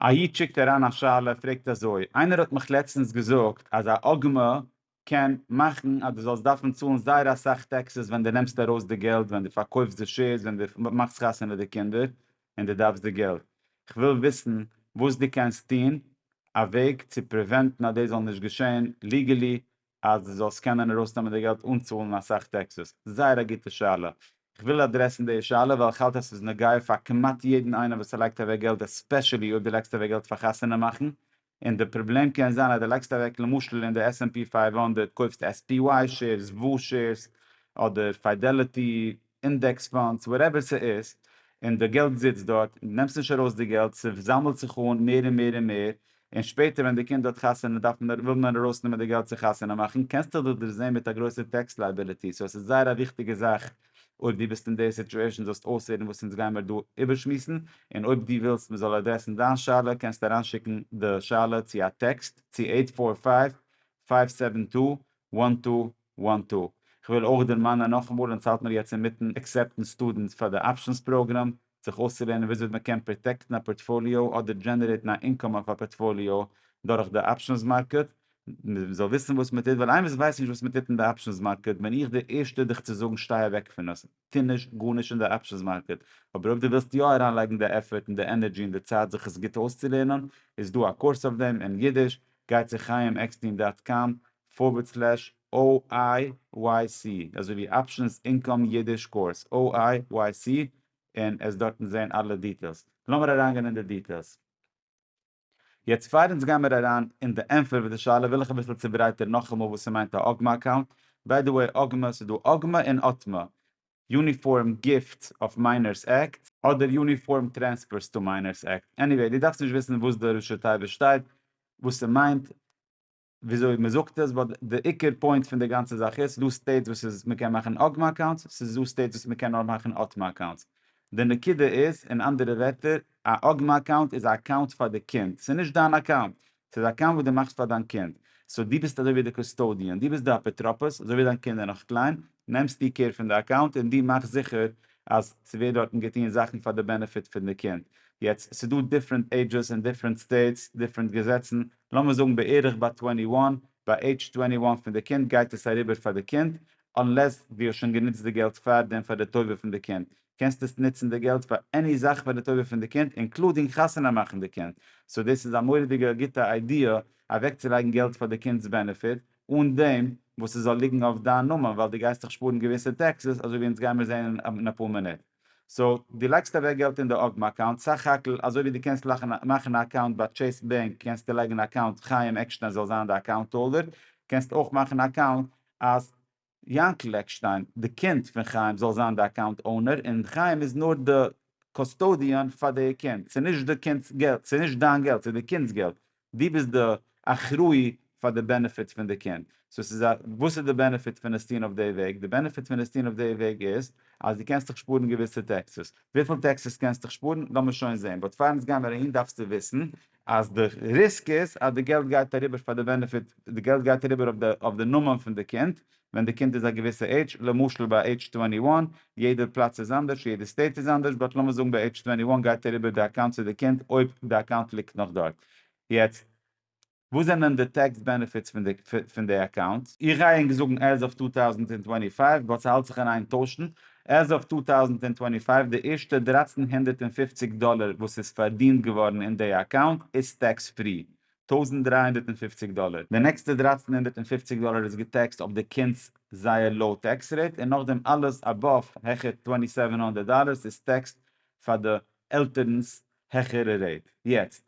א איד שיקט אריין א שאלה, פרעגט אזוי, איינער האט מיך לעצטענס געזאגט אז א עגמה קען מאכן אז דו זאלסט דארפן צאלן זייער אסאך טעקסעס ווען דו נעמסט ארויס די געלט, ווען דו פארקויפסט די שעירס, ווען דו מאכסט חתונה די קינדער, און דו דארפסט די געלט. כ'וויל וויסן וואס דו קענסט טון, א וועג צו פריווענטן אז דאס זאל נישט געשען, ליגעלי אז דו זאלסט קענען ארויסנעמען די געלט אן צאלן אסאך טעקסעס? זייער א גוטע שאלה. איך וויל אדרעסן די שאלה ווייל איך האלט אז ס'איז נוגע פאר כמעט יעדן איינעם וואס ער לייגט אוועק געלט עספעשעלי אויב דו לייגסט אוועק געלט פאר חתונה מאכן און די פראבלעם קען זיין אז דו לייגסט אוועק למשל אין די עס ענד פי פייוו הונדערט קויפסט עס פי וואי שעירס וואו שעירס אדער פיידעליטי אינדעקס פאנדס וואטעווער ס'איז, און די געלט זיצט דארט, און דו נעמסט נישט ארויס די געלט, ס'זאמלט זיך אן מער און מער און מער, און שפעטער ווען די קינד האט חתונה דארף מען וויל מען ארויסנעמען די געלט צו חתונה מאכן, קענסטעך דאך דערזעהן מיט א גרויסע טעקס לייבילעטי, סאו עס איז זייער א וויכטיגע זאך אויב דו ביסט אין די סיטועשן זאלסט אויסהערן וואס אונז גיימער דא איבערשמועסן, און אויב דו ווילסט מען זאל אדרעסן דיין שאלה קענסטו אריינשיקן די שאלה צו א טעקסט צו עיט פאר פייוו פייוו סעווען טו וואן טו וואן טו. כ'וויל אויך דערמאנען נאכאמאל אונז האלט מיר יעצט אינמיטן עקסעפטן סטודענטס פאר די אפשענס פראגראם, זיך אויסצולערנען וויאזוי מען קען פראטעקטן א פארטפאליאו אדער דזשענערעיטן א אינקאם אויף א פארטפאליאו דורך די אפשענס מארקעט, מען זאל וויסן וואס מען טוט ווייל איינער וואס ווייסט נישט וואס מען טוט אין די אפשענס מארקעט בין איך דער ערשטער דיך צו זאגן שטיי אוועק פון עס, טו נישט גארנישט אין די אפשענס מארקעט, אבער אויב דו ווילסט יא אריינלייגן די עפערט און די ענערדזשי און די צייט זיך עס גוט אויסצולערנען איז דא א קורס אויף דעם אין אידיש, גיי צו חיים עקסטין דאט קאם פארווערד סלעש OIYC, אזוי ווי אפשענס אינקאם אידיש קורס, OIYC, און עס דארטן זעהן אלע דיטעילס. לאמיר אריינגיין אין די דיטעילס. יעצט פאר אונז גיימער אריין אין די ענפער וואס די שאלה וויל איך אביסל צוברייטערן נאכאמאל וואס ס'מיינט א אגמא אקאונט. ביי די וועי אגמא ס'איז דא אגמא און אטמא. יוניפארם גיפט אף מיינערס עקט, אדער יוניפארם טרענספערס טא מיינערס עקט, עניוועי דו דארפסט נישט וויסן וואס די ראשי תיבות שטייט וואס ס'מיינט, וויאזוי מען זאגט עס באט די עיקר פוינט פון די גאנצע זאך איז ס'דא סטעיטס וואס איז מען קען מאכן אגמא אקאונטס ס'איז דא סטעיטס וואס מען קען נאר מאכן אטמא אקאונטס די נקודה איז אין אנדערע ווערטער א אגמא אקאונט איז א אקאונט פאר די קינד ס'איז נישט דיין אקאונט ס'איז א אקאונט וואס דו מאכסט פאר דיין קינד סאו דו ביסט אזוי ווי די קוסטאדיען דו ביסט די אפוטרופוס אזוי ווי דיין קינד איז נאך קליין נעמסטו קעיר פון די אקאונט און דו מאכסט זיכער אז ס'ווערט דארטן געטון זאכן פאר די בענעפיט פון די קינד יעצט ס'איז דא דיפרענט עידזשעס אין דיפרענט סטעיטס דיפרענט געזעצן לאמיר זאגן בערך ביי טווענטי וואן, ביי עידזש טווענטי וואן פון די קינד גייט עס אריבער פאר די קינד, אנלעס דו האסט שוין גענוצט די געלט פאר דעם פאר די טובה פון די קינד, קענסט עס נוצן די געלט פאר עני זאך פאר די טובה פון די קינד אינקלודינג חתונה מאכן די קינד, סאו דאס איז א מורא'דיגע גוטע איידיע אוועקצולייגן געלט פאר די קינד'ס בענעפיט, אן דעם וואס ס'זאל ליגן אויף דיין נאמען ווייל דו גייסט דיך שפארן געוויסע טעקסעס אזוי ווי אונז גיימיר זעהן אין אפאר מינוט. סאו דו לייגסט אוועק געלט אין די אגמ אקאונט סך הכל אזוי ווי דו קענסט מאכן א אקאונט ביי טשעיס בענק קענסטו לייגן א אקאונט חיים עקשטיין זאל זיין די אקאונט האלדער קענסט אויך מאכן א אקאונט אז יענקל עקשטיין די קינד פון חיים זאל זיין די אקאונט אונער און חיים איז נאר די קאסטאדיען פאר די קינד ס'נישט די קינד'ס געלט ס'נישט דיין געלט ס'די קינד'ס געלט דו ביסט די אחראי פאר די בענעפיטס פון די קינד. סאו ס'איז א, וואס איז די בענעפיט פון עס טון אויף די וועג? די בענעפיט פון עס טון אויף די וועג איז אז דו קענסט דיך שפארן געוויסע טעקסעס. וויפיל טעקסעס קענסט דיך שפארן? לאמיר שוין זעהן. באט פאר אונז גיימער אהין דארפסטו וויסן אז די ריסק איז אז די געלט גייט אריבער פאר די בענעפיט, די געלט גייט אריבער אויף די נאמען פון די קינד, ווען די קינד איז א געוויסע עידזש, למשל ביי עידזש טווענטי וואן, יעדער פלאץ איז אנדערש, יעדע סטעיט איז אנדערש, באט לאמיר זאגן ביי עידזש טווענטי וואן גייט אריבער די אקאונט צו די קינד אויב די אקאונט ליגט נאך דארט. יעצט וואס זענען די טעקס בענעפיטס פון די פון די אקאונט? איך גיי ענק זאגן עז אוו טו טאוזנט און טווענטי פייוו באט ס'האלט זיך אין איין טוישן, עז אוו טו טאוזנט און טווענטי פייוו די ערשטע דרײַצן הונדערט פֿופֿציק דאלער וואס איז פארדינט געווארן אין די אקאונט איז טעקס פרי, טויזנט דרײַ הונדערט און פֿופֿציק דאלער, די נעקסטע דרײַצן הונדערט און פֿופֿציק דאלער איז געטעקסט אויף די קינדס זייער לאו טעקס רעיט און נאכדעם אלעס אבאוו העכער טווענטי סעווען הונדערט דאלער איז טעקסט פאר די עלטערנס העכערע רעיט, יעצט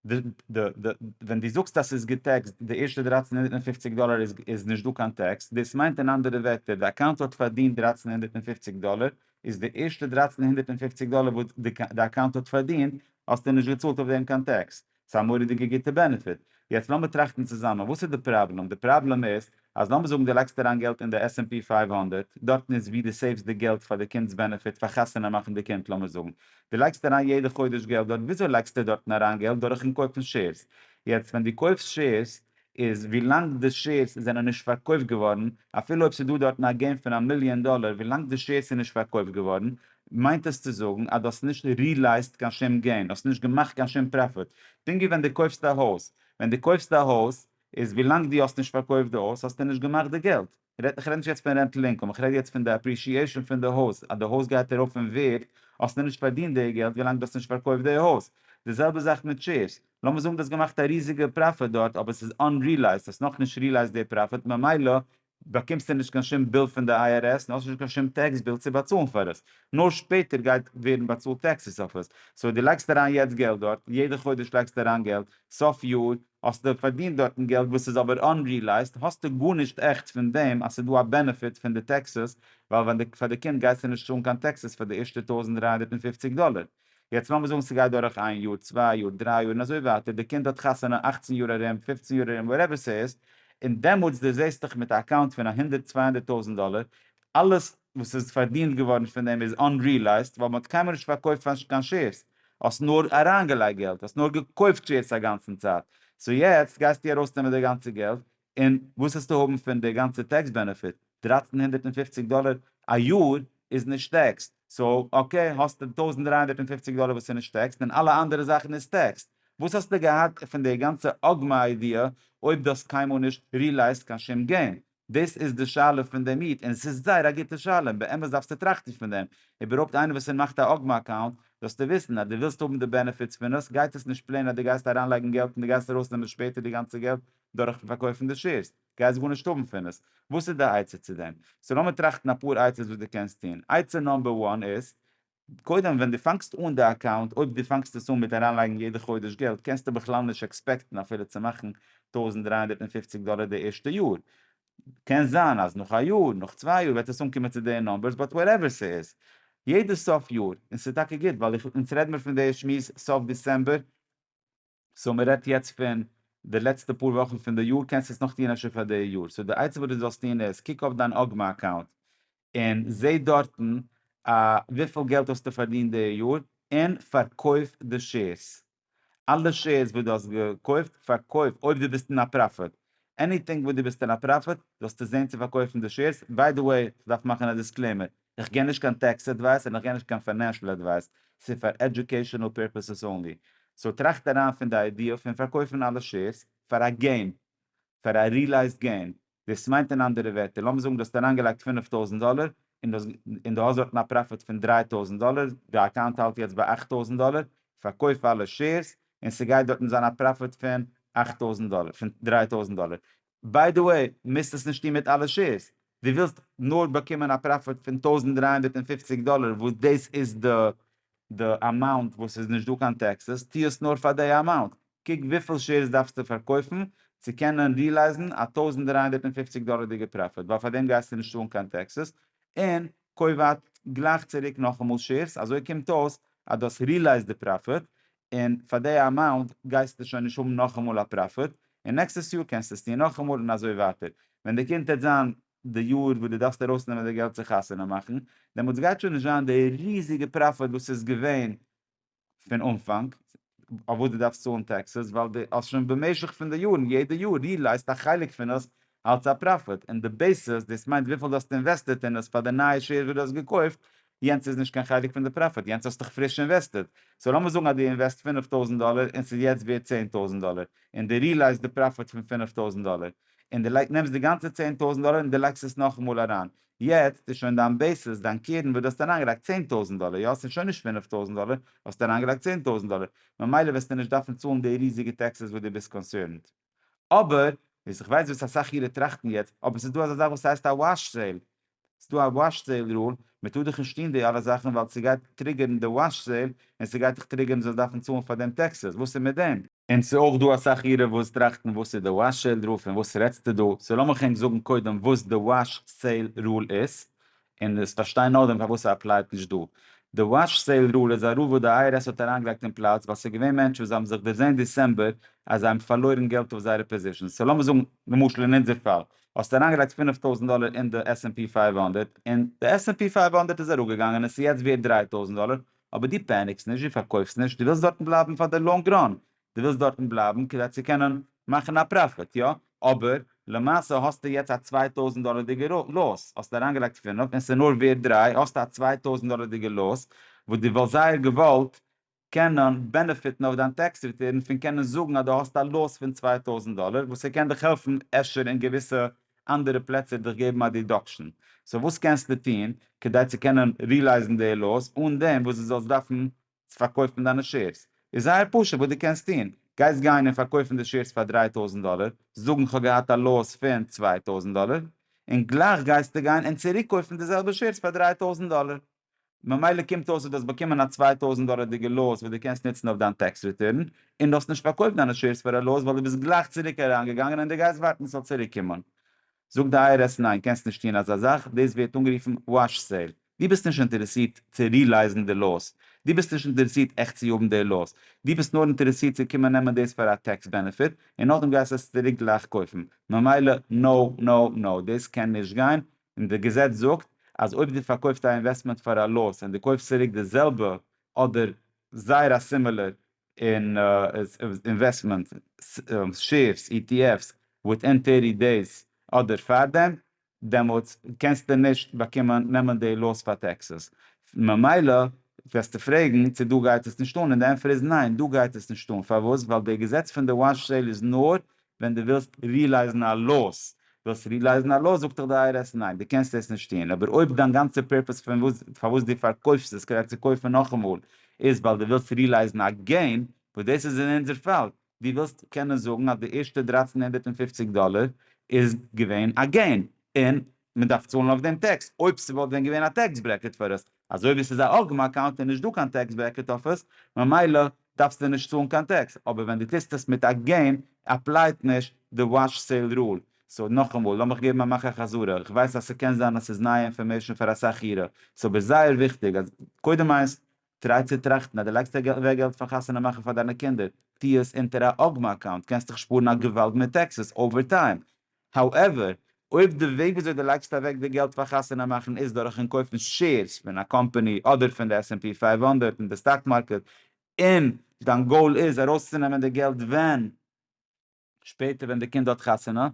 די די די ווען די זאגסט אז ס'איז געטעקסט די ערשטע דרײַצן הונדערט און פֿופֿציק דאלער איז איז נישט דא קיין טעקס דאס מיינט אין אנדערע ווערטער די אקאונט האט פארדינט דרײַצן הונדערט און פֿופֿציק דאלער איז די ערשטע דרײַצן הונדערט און פֿופֿציק דאלער וואס די די אקאונט האט פארדינט האסטו נישט געצאלט אויף דעם קיין טעקס ס'איז א מורא'דיגע גוטע בענעפיט. יעצט לאמיר טראכטן צוזאמען, וואס איז די פראבלעם? די פראבלעם איז, אז לאמיר זאגן דו לייגסט אריין געלט אין די עס ענד פי פייוו הונדערט, דארטן איז ווי דו סעיווס די געלט פאר די קינד'ס בענעפיט, פאר חתונה מאכן די קינד לאמיר זאגן. דו לייגסט אריין יעדע חודש געלט דארט, וויאזוי לייגסטו דארטן אריין געלט? דורכ'ן קויפן שעירס. יעצט ווען דו קויפסט שעירס, איז ווילאנג די שעירס זענען נישט פארקויפט געווארן, אפילו אויב ס'איז דא דארטן א געים פון א מיליאן דאלער, ווילאנג די שעירס איז נישט פארקויפט געווארן, מיינט עס צו זאגן אז דו האסט נישט ריעלייזט קיין שום געים, האסט נישט געמאכט קיין שום פראפיט. פונקט ווי ווען דו קויפסט א הויז, ווען דו קויפסט א הויז, איז ווילאנג דו האסט נישט פארקויפט די הויז, האסטו נישט געמאכט די געלט. כ'רעד כ'רעד נישט יעצט פון רענטל אינקאם, כ'רעד יעצט פון די אפרישיעשאן פון די הויז, אז די הויז גייט ארויף אין ווערד, האסט נאכנישט פארדינט די געלט ווילאנג דו האסט נישט פארקויפט די הויז. די זעלבע זאך מיט שעירס, לאמיר זאגן דו האסט געמאכט א ריזיגע פראפיט דארט אבער ס'איז אנרילייזט, האסט נאכנישט רילייזט די פראפיט ממילא באקומסטו נישט קיין שום ביל פון די IRS און האסט נישט קיין שום טעקס ביל צו באצאלן פאר עס, נאר שפעטער גייט ווערן באצאלט טעקסעס אויף עס. סאו דו לייגסט אריין יעצט געלט דארט, יעדע חודש לייגסטו אריין געלט, סוף יאר האסטו פארדינט דארטן געלט וואס איז אבער אנרילייזט, האסטו גארנישט עכט פון דעם אז ס'איז דא א בענעפיט פון די טעקסעס, ווייל ווען די פאר די קינד גייסטו נישט צאלן קיין טעקסעס פאר די ערשטע טויזנט דרײַ הונדערט פֿופֿציק דאלער. יעצט לאמיר זאגן ס'גייט דורך איין יאר, צוויי יאר, דריי יאר און אזוי ווייטער, די קינד האט חתונה אַכצן יאר ארום, פֿופֿצן יאר ארום, וואטעווער ס'איז, און דעמאלטס דו זעסט דיך מיט א אקאונט פון א הונדערט צוויי הונדערט טויזנט דאלער, אלעס וואס איז פארדינט געווארן פון דעם איז אנריעלייזט ווייל מען האט קיינמאל נישט פארקויפט קיין שעירס, האסט נאר אריינגעלייגט געלט, האסט נאר געקויפט שעירס א גאנצן צייט, סאו יעצט גייסטו ארויסנעמען די גאנצע געלט און וואס העסטו האבן פון די גאנצע טעקס בענעפיט? דרײַצן הונדערט און פֿופֿציק דאלער א יאר איז נישט טעקסד, סאו אקעי האסטו טויזנט דרײַ הונדערט און פֿופֿציק דאלער וואס איז נישט טעקסד און אלע אנדערע זאכן איז טעקסד, וואס האסטו געהאט פון די גאנצע אגמא איידיע אויב דו האסט קיינמאל נישט ריעלייזט קיין שום געים? דאס איז די שאלה פון דעם איד, און עס איז זייער א גוטע שאלה, און באמת דארפסטו טראכטן פון דעם, איבערהויפט איינער וואס ער מאכט א אגמא אקאונט, זאלסטו וויסן אז דו ווילסט האבן די בענעפיטס פון עס, גייט עס נישט פלעין אז דו גייסט אריינלייגן געלט און דו גייסט ארויסנעמען שפעטער די גאנצע געלט דורכן פארקויפן די שעירס, גייסט גארנישט האבן פון עס, וואס איז די עצה צו דעם? סאו לאמיר טראכטן אפאר עצות וואס דו קענסט טון, עצה נאמבער וואן איז, קודם ווען דו פאנגסט אן די אקאונט, אויב דו פאנגסט עס אן מיט אריינלייגן יעדע חודש געלט, קענסטו בכלל נישט עקספעקטן אפילו צו מאכן טויזנט דרײַ הונדערט און פֿופֿציק דאלער די ערשטע יאר, קען זיין אז נאך א יאר, נאך צוויי יאר וועט עס אנקומען צו די נאמבערס, באט וואטעווער ס'איז, יעדע סוף יאר, און ס'איז טאקע גוט, ווייל איך, אונז רעד מיר פון די שמועס סוף דעצעמבער, סאו מען רעדט יעצט פון די לעצטע פאר וואכן פון די יאר קענסטו עס נאך טוען אפשר פאר די יאר, סאו די עצה וואס די זאלסט טוען איז קוק אויף דיין אוגמא אקאונט און זע דארטן וויפיל געלט האסטו פארדינט די יאר און פארקויף די שעירס, אלע שעירס וואס די האסט געקויפט פארקויף אויב די ביסט אין א פראפיט, עניטינג וואס די ביסט אין א פראפיט זאלסטו זען צו פארקויפן די שעירס, ביידעוועי כ'דארף מאכן א דיסקלעימער איך גיב נישט קיין טעקס עדווייס און איך גיב נישט קיין פיינענשעל עדווייס, ס'איז פאר עדיוקעישענעל פירפעסעס אנלי, סאו טראכט אריין פון די איידיע פון פארקויפן אלע שעירס פאר א געים, פאר א ריעלייזד געים, דאס מיינט אין אנדערע ווערטער לאמיר זאגן דו האסט אריינגעלייגט פֿינף טויזנט דאלער און דו און דו האסט דארטן א פראפיט פון דרײַ טויזנט דאלער, די אקאונט האלט יעצט ביי אַכט טויזנט דאלער, פארקויף אלע שעירס און ס'גייט דארטן זיין א פראפיט פון אַכט טויזנט דאלער, פון דרײַ טויזנט דאלער, ביי די וועי, מוזט עס נישט טון מיט אלע שעירס, דו ווילסט נאר באקומען א פראפיט פון טויזנט דרײַ הונדערט און פֿופֿציק דאלער וואס דאס איז די די אמאונט וואס איז נישט דא קיין טעקסעס, טו עס נאר פאר די אמאונט, קוק וויפיל שעירס דארפסטו פארקויפן צו קענען ריעלייזן א טויזנט דרײַ הונדערט און פֿופֿציק דאלערדיגע פראפיט, ווייל פאר דעם גייסטו נישט צאלן קיין טעקסעס, און קויף גלייך צוריק נאכאמאל שעירס, אזוי קומט אויס אז דו האסט ריעלייזד די פראפיט, און פאר די אמאונט גייסטו שוין נישט האבן נאכאמאל א פראפיט, און נעקסטעס יאר קענסטו עס טון נאכאמאל און אזוי ווייטער, ווען די קומט העט זיין די יאר וואס די דארפסט ארויס נעמען די געלט צו חתונה מאכן, דעמאלטס גייט שוין נישט זיין די ריזיגע פראפיט וואס איז געווען פון אנפאנג, אויף וואס די דארפסט צאלן טעקסעס, ווייל די האסט שוין במשך פון די יארן יעדע יאר ריעלייזט א חלק פון עס אלס א פראפיט און די בעיסעס, דאס מיינט וויפיל דו האסט אינוועסטעט אין עס פאר די נייע שעירס וואס דו האסט געקויפט, יענץ איז נישט קיין חלק פון די פראפיט, יענץ האסטעך פריש אינוועסטעט, סאו לאמיר זאגן אז דו אינוועסט פֿינף טויזנט דאלער און ס'איז יעצט ווערט צען טויזנט דאלער, און דו ריעלייזט די פראפיט פון פֿינף טויזנט דאלער, און דו נעמסט די גאנצע צען טויזנט דאלער און דו לייגסט עס נאכאמאל אריין, יעצט איז שוין דיין בעיסעס, דיין קרן וואס דו האסט אריינגעלייגט צען טויזנט דאלער, יא? ס'איז שוין נישט פֿינף טויזנט דאלער, האסט אריינגעלייגט צען טויזנט דאלער, ממילא וועסטו נישט דארפן צאלן די ריזיגע טעקסעס וואס דו ביסט קאנסערנד. אבער וואס איך ווייס וואס אסאך אירע טראכטן יעצט, אבער ס'איז דא אזא זאך וואס הייסט א וואש סעיל, ס'איז דא א וואש סעיל רול, מ'טאר דיך נישט טון די אלע זאכן ווייל ס'גייט טריגערן די וואש סעיל, און ס'גייט דיך טריגערן זאלסט דארפן צאלן פאר דעם טעקסעס, וואס איז מיט דעם? און ס'איז אויך דא אסאך אירע וואס טראכטן וואס איז די וואש סעיל רול פון וואס רעדסטו דא, סאו לאמיך ענק זאגן קודם וואס די וואש סעיל רול איז, און עס פארשטיין נאר דעם פארוואס ער אפלייט נישט דא. די וואטש סעיל רול איז א רול וואס די IRS האט אריינגעלייגט אין פלאץ ווייל ס'איז געווען מענטשן וואס האבן זיך דערזען דיסעמבער אז זיי האבן פארלוירן געלט אויף זייערע פאזישאנס. סאו לאמיר זאגן למשל אין אונזער פאל האסטו אריינגעלייגט פֿינף טויזנט דאלער אין די עס ענד פי פֿינף הונדערט און די עס ענד פי פֿינף הונדערט איז אראפגעגאנגען און עס איז יעצט ווערט דרײַ טויזנט דאלער אבער דו פעניקסט נישט, דו פארקויפסט נישט, דו ווילסט דארטן בלייבן פאר די לאנג ראן. דו ווילסט דארטן בלייבן כדי צו קענען מאכן א פראפיט, יא? אבער למעשה האסטו יעצט א צוויי טויזנט דאלערדיגע לאז, האסט אריינגעלייגט פֿינף און ס'איז נאר ווערד דרײַ, האסטו א צוויי טויזנט דאלערדיגע לאז וואס דו וואלסט זייער געוואלט קענען בענעפיטן אויף דיין טעקס ריטורן פון קענען זאגן אז דו האסט א לאז פון צוויי טויזנט דאלער וואס ס'קען דיך העלפן אפשר אין געוויסע אנדערע פלעצער דיך געבן א דידאקשן, סאו וואס קענסטו טון כדי צו קענען רילייזן די לאז אן דעם וואס דו זאלסט דארפן צו פארקויפן דיינע שעירס איז זייער פשוט וואס דו קענסט טון, גייסט גיין און פארקויפן די שעירס פאר דרײַ טויזנט דאלער, זאגן כ'האב געהאט א לאס פון צוויי טויזנט דאלער, און גלייך גייסטו גיין און צוריקקויפן די זעלבע שעירס פאר דרײַ טויזנט דאלער, ממילא קומט אויס אז דו האסט באקומען א צוויי טויזנט דאלערדיגע לאס וואס דו קענסט נוצן אויף דיין טעקס ריטורן, און דו האסט נישט פארקויפט דיינע שעירס פאר א לאס ווייל דו ביסט גלייך צוריק אריינגעגאנגען און דו גייסט ווארטן ס'זאל צוריקקומען. זאגט די איי אר עס ניין קענסט נישט טון אזא זאך, דאס ווערט אנגערופן וואש סעיל, דו ביסט נישט אינטערעסירט צו רילייזן די לאס, דו ביסט נישט אינטערעסירט עכט צו האבן די לאס, דו ביסט נאר אינטערעסירט צו קומען נעמען דאס פאר א טעקס בענעפיט און נאכדעם גייסטו עס צוריק גלייך קויפן, ממילא נא נא נא דאס קען נישט גיין, און די געזעץ זאגט אז אויב דו פארקויפסט א אינוועסטמענט פאר א לאס און דו קויפסט צוריק די זעלבע אדער זייער א סימילער און אינוועסטמענט שעירס, אי טי עף'ס, וויטין טערטי דעיס אדער פארדעם, דעמאלטס קענסטו נישט באקומען נעמען די לאס פאר טעקסעס. ממילא וועסטו פרעגן צו דא גייט עס נישט אן, און די ענטפער איז ניין דא גייט עס נישט אן. פארוואס? ווייל די געזעץ פון די וואן סעיל איז נאר ווען דו ווילסט רילייזן א לאס, ווילסט רילייזן א לאס זאגט דיך די איי אר עס ניין די קענסט עס נישט טוהן, אבער אויב דיין גאנצע פערפעס פון וואס פארוואס דו פארקויפסט עס כדי צו קויפן נאכאמאל איז ווייל דו ווילסט רילייזן א געין, וואס דאס איז אין אונזער פאל, דו ווילסט קענען זאגן אז די ערשטע דרײַצן הונדערט און פֿופֿציק דאלער איז געווען א געין און מען דארף צאלן אויף דעם טעקס, אויב ס'וואלט ווען געווען א טעקס ברעקעט פאר עס אזוי ווי ס'איז א ארגמ אקאונט איז נישט דא קיין טעקס ברעקעט אויף עס, ממילא דארפסטו נישט צאלן קיין טעקס, אבער ווען דו טוסט עס מיט א געים עפלייט נישט די וואטש סעיל רול. סאו נאכאמאל, לאמיך געבן א מאך א חזרה, איך ווייס אז ס'קען זיין אז ס'איז נייע אינפארמעישן פאר אסאך אירע, סאו אבער זייער וויכטיג אז קודם איינס, טריי צו טראכטן אז דו לייגסט אוועק געלט פאר חתונה מאכן פאר דיינע קינדער, טו עס אונטער א ארגמ אקאונט, קענסט דיך שפארן א געוואלד מיט טעקסעס אווער טיים. האועווער, אויב די וועג וויאזוי די לייגסט אוועק די געלט פאר חתונה מאכן איז דורכן קויפן שעירס פון א קאמפאני אדער פון די עס ענד פי פֿינף הונדערט אין די סטאק מארקעט און דיין גאול איז ארויסצונעמען די געלט ווען שפעטער ווען די קינד האט חתונה,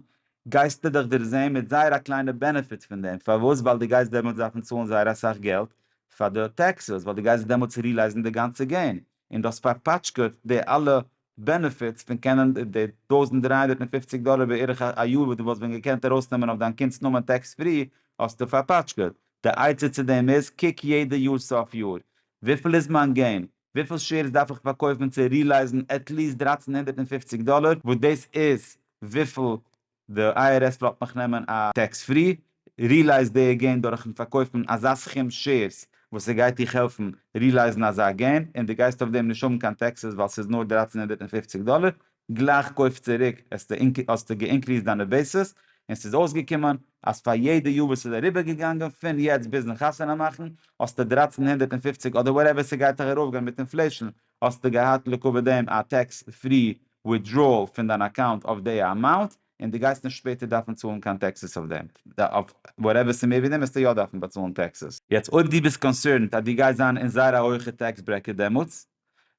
גייסטו דיך דערזעהן מיט זייער א קליינע בענעפיט פון דעם, פארוואס? ווייל די גייסט דעמאלטס דארפן צאלן זייער אסאך געלט פאר די טעקסעס, ווייל די גייסט דעמאלטס רילייזן די גאנצע געים און די האסט פארפאטשקעט די אלע בענעפיטס פון קענען די טויזנט דרײַ הונדערט און פֿופֿציק דאלער בערך א יאר וואס דו וואלסט ווען געקענט ארויסנעמען אויף דיין קינד'ס נאמען טעקס פרי האסטו פארפאטשקעט. די עצה צו דעם איז, קוק יעדע יאר סוף יאר וויפיל איז מיין געים, וויפיל שעירס דארף איך פארקויפן צו רילייזן עטליעסט דרײַצן הונדערט און פֿופֿציק דאלער וואס דאס איז וויפיל די IRS ווילט נאך נעמען א טעקס פרי רילעיס דעי געין דורכן פארקויפן אזא סכום שעירס וואס ס'גייט דיך העלפן רילעיזן אזא געין און די גייסט אויף דעם נישט האבן קיין טעקסעס ווייל ס'איז נאר דרײַצן הונדערט און פֿופֿציק דאלער, גלייך קויף צוריק האסטו געאינקריסט דיינע בעיסעס און ס'איז אויסגעקומען אז פאר יעדע יאר וואס איז אריבער געגאנגען פון יעצט ביזן חתונה מאכן האסטו דרײַצן הונדערט און פֿופֿציק אדער וואטעווער ס'גייט דיך ארויפגיין מיט אינפלעישן האסטו געהאט לעקאווע דעם א טעקס פרי וויטדראעל פון דיין אקאונט אויף די אמאונט, און דו גייסט נישט שפעטער דארפן צאלן קיין טעקסעס אויף דעם, אויף וואטעווער ס'איז מער ווי דעם וועסטו יא דארפן באצאלן טעקסעס. יעצט אויב דו ביסט קאנסערנד אז דו גייסט זיין אין זייער א הויכע טעקס ברעקעט דעמאלטס,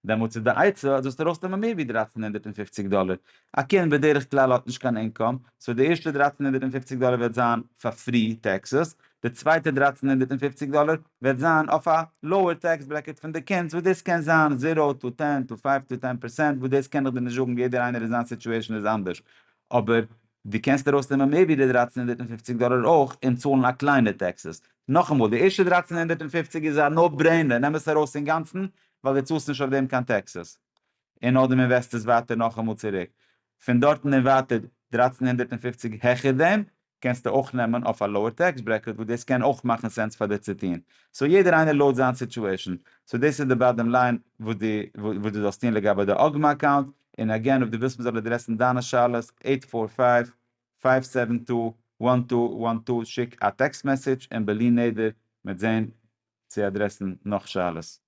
דעמאלטס איז די עצה אז זאלסט ארויסנעמען מער ווי דרײַצן הונדערט און פֿופֿציק דאלער, א קינד בדרך כלל האט נישט קיין אינקאם, סאו די ערשטע דרײַצן הונדערט און פֿופֿציק דאלער וועט זיין פאר פרי טעקסעס, די צווייטע דרײַצן הונדערט און פֿופֿציק דאלער וועט זיין אויף א לאוער טעקס ברעקעט פון די קינדס וואס דאס קען זיין זיראו טו טען טו פייוו טו טען פערסענט וואס דאס קען איך דיר נישט זאגן יעדער איינער אין זיין סיטואשען איז אנדערש אבער די קענסט ארויסנעמען מער ווי די דרײַצן הונדערט און פֿופֿציק דאלער אויך און צאלן א קליינע טעקסעס נאכאמאל די ערשטע דרײַצן הונדערט און פֿופֿציק איז א נאו ברעינער נעם עס ארויס אינגאנצן ווייל די צאלסט נישט אויף דעם קיין טעקסעס און אדער מען וועסט עס ווייטער נאכאמאל צוריק פון דארטן און ווייטער דרײַצן הונדערט און פֿופֿציק העכער דעם קענסטו אויך נעמען אויף א לאוער טעקס ברעקעט וואס דאס קען אויך מאכן סענס פאר דיר צו טון. סאו יעדער איינער לויט זיין סיטועשן. סאו דאס איז די באדעם ליין וואס די וואס די זאלסט טון לגבי די אגמא אקאונט, און אגעין אויב די ווילסט מ'זאל אדרעסן דיינע שאלות אייט פאר פייוו פייוו סעווען טו וואן טו וואן טו שיק א טעקסט מעסעדזש און בלי נדר מיט זעהן צו אדרעסן נאך שאלות.